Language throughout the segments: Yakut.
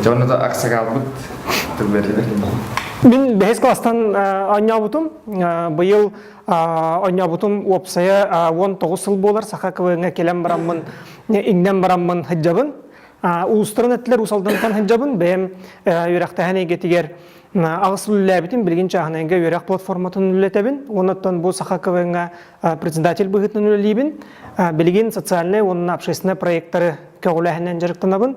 Дьонно да аксакалбыт тылларыгар Мен бэһис класстан онньообутум. Быйыл онньообутум уопсайа уон тоҕус сыл буолар саха квҥҥа кэлэн бараммын иҥнэн бараммын һыддьабын. Уустарын эттилэр усалдантан һыддьабын бэйэм үөрэхтэһэн эйгэтигэр аҕыс сыл үлэлээбитим билигин чааһынайга үөрэх платформатын үлэлэтэбин уонуттан бу саха квҥҥа председатель быһыытынан үлэлиибин билигин социальнай уонна общественнай проекттары көҕүлээһиннэн дьарыктанабын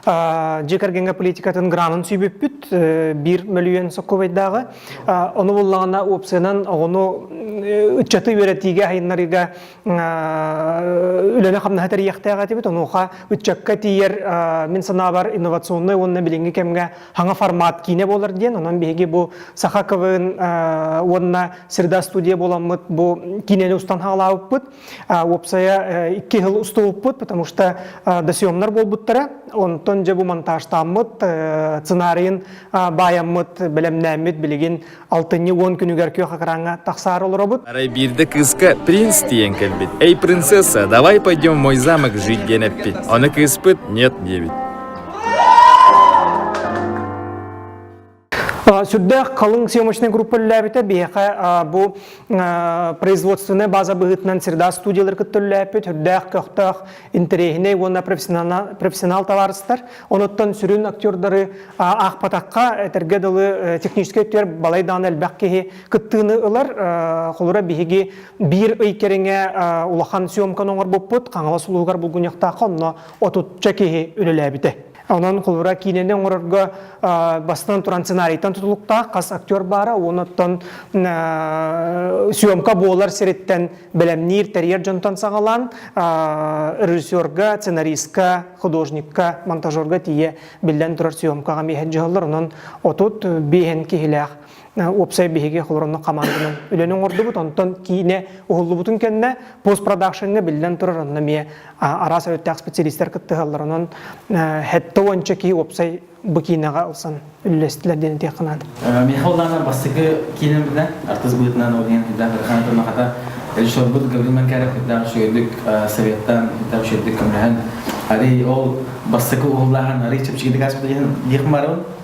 Дьиэ кэргэҥҥэ политикатын гранын сүүбүппүт биир мөлүйүөн сокуобайдааҕы. Ону буллаҕына опциянан оҕону ыччаты үөрэтиигэ айыннарыыга үлэни-хамнаһы тэрийиэхтээх этибит. Онуоха ыччакка тиийэр мин санаабар инновационнай уонна билиҥҥи кэмҥэ хаҥа формат киинэ буолар диэн. Онон биһиги бу Саха КВН уонна Среда студия буоламмыт бу киинэни устан хаалаабыппыт. Уопсайа икки хыл устубуппут, потому что досъемнар болбуттара. Онтон же бу монтажтааммыт, сценарийын баайаммыт, бэлэмнээммит билигин алтынньы уон күнүгэр күөх экраҥҥа тахсаар олоробут. Арай биирдэ кыыска принц тиийэн кэлбит. «Эй, принцесса, давай пойдем в мой замок жить» диэн эппит. Аны кыыспыт «Нет» диэбит. Сүрдээх халыҥ съемочнай группа үллээбитэ. Биһиэхэ бу производственнай база быһыытынан Среда студиялар кытта үллээппит. Үрдээх көхтөөх интэриэһинэй уонна профессионал табаарыстар. Онуттан сүрүн актердары аахпатахха, этэргэ дылы техническэй өттүгэр балай даҕаны элбэх киһи кыттыыны ылар. Холура биһиги биир ый кэриҥэ улахан съемканы оҥорбуппут. Хаҥалас улууһугар булгуньахтаахха онно отучча киһи үлэлээбитэ. Онон кулура киинэни оҥорорго бастан туран сценарийтан тутулуктаах хас актер баара уонуттан съемка буолар сириттэн бэлэмниир, тэрийэр дьонтон саҕалаан режиссерга, сценаристка, художникка, монтажерга тиийэ биллэн турар съемкаҕа миэһэн дьыһаллар. Онон отут биэһэн киһилээх уопсай биһиги холоронно хамаанданан үлэни оҥордубут онтон киинэ уһуллубутун кэннэ пост продакшеҥҥа биллэн турар онно эмиэ араас өрүттээх специалистар кыттыһаллар онон хэттэ уонча киһи уопсай бу киинэҕэ ылсан үллэстилэр диэн этиэххэ наада миэхэ улаанар бастакы киинэм быта артыс быытынан ол иһин үрдээх ырхаан тымахата режиссербут Гаврил Манкаров үрдээх үчүгэйдик советтан үрдээх үчүгэйдик көмөлөһөн арый ол бастакы уһуллааһын арый чэпчэкитик ааспыт иһин диэх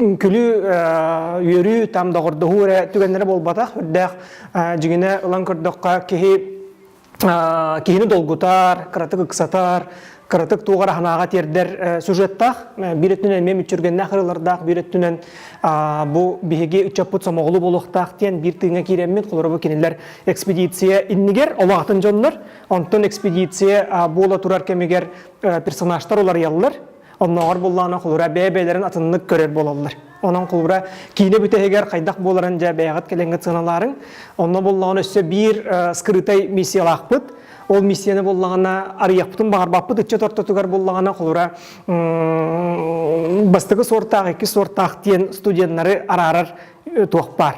Үҥкүлүү үөрүү там доҕордоһуу эрэ түгэннэрэ буолбатах. Үрдээх дьиҥинэ ылан көрдөххө киһи киһини долгутар, кыратык ыксатар, кыратык туоҕар аһынааҕа тиэрдэр сюжеттаах. Биир өттүнэн эмиэ мүччүргэннээх ырылардаах, биир өттүнэн бу биһиги ыччаппыт сомоҕолуу буолуохтаах диэн биир тыыҥа киирэммит. Холоро бу кинилэр экспедиция иннигэр олох атын дьоннор, онтон экспедиция буола турар кэмигэр персонажтар уларыйаллар. Оннооҕор буллаана холура бэйэ-бэйэлэрин атыннык көрөр буолаллар. Онон холура киинэ бүтэһигэр хайдах буоларын дьэ бэйэҕит кэлэҥҥит сыаналаарыҥ. Онно буллаҕына өссө биир скрытай миссиялаахпыт. Ол миссияны буллаҕына арыйахпытын баҕарбаппыт ыччат ортотугар буллаҕына холура бастакы суортаах, икки суортаах диэн студеннары араарар туох баар.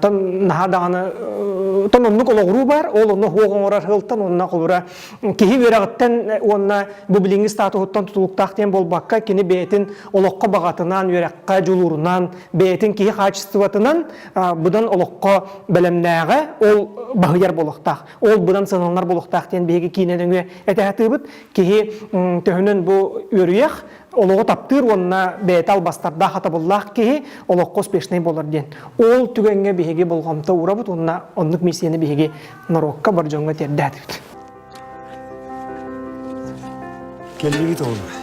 Тон наһаа даҕаны тон оннук олоҕуруу баар, ол онно хуох оҥорор хылтан онно холура киһи үөрэҕиттэн уонна бу билиҥҥи статуһуттан тутулуктаах диэн буолбакка, кини бэйэтин олоххо баҕатынан, үөрэххэ дьулуурунан, бэйэтин киһи хаачыстыбатынан быдан олоххо бэлэмнээҕэ, ол баһыйар буолуохтаах, ол быдан сыһаланар буолуохтаах диэн биһиги киинэ нөҥүө этэ сатыыбыт. Киһи төһөнөн бу үөрүйэх, олоҕу таптыыр уонна бэйэтэ албастардаах атабыллаах киһи олоххо успешнай буолар диэн ол түгэҥҥэ биһиги болҕомто уурабыт уонна оннук миссияны биһиги норуокка бар дьоҥҥо тиэрдээтибит келлибит оҕолор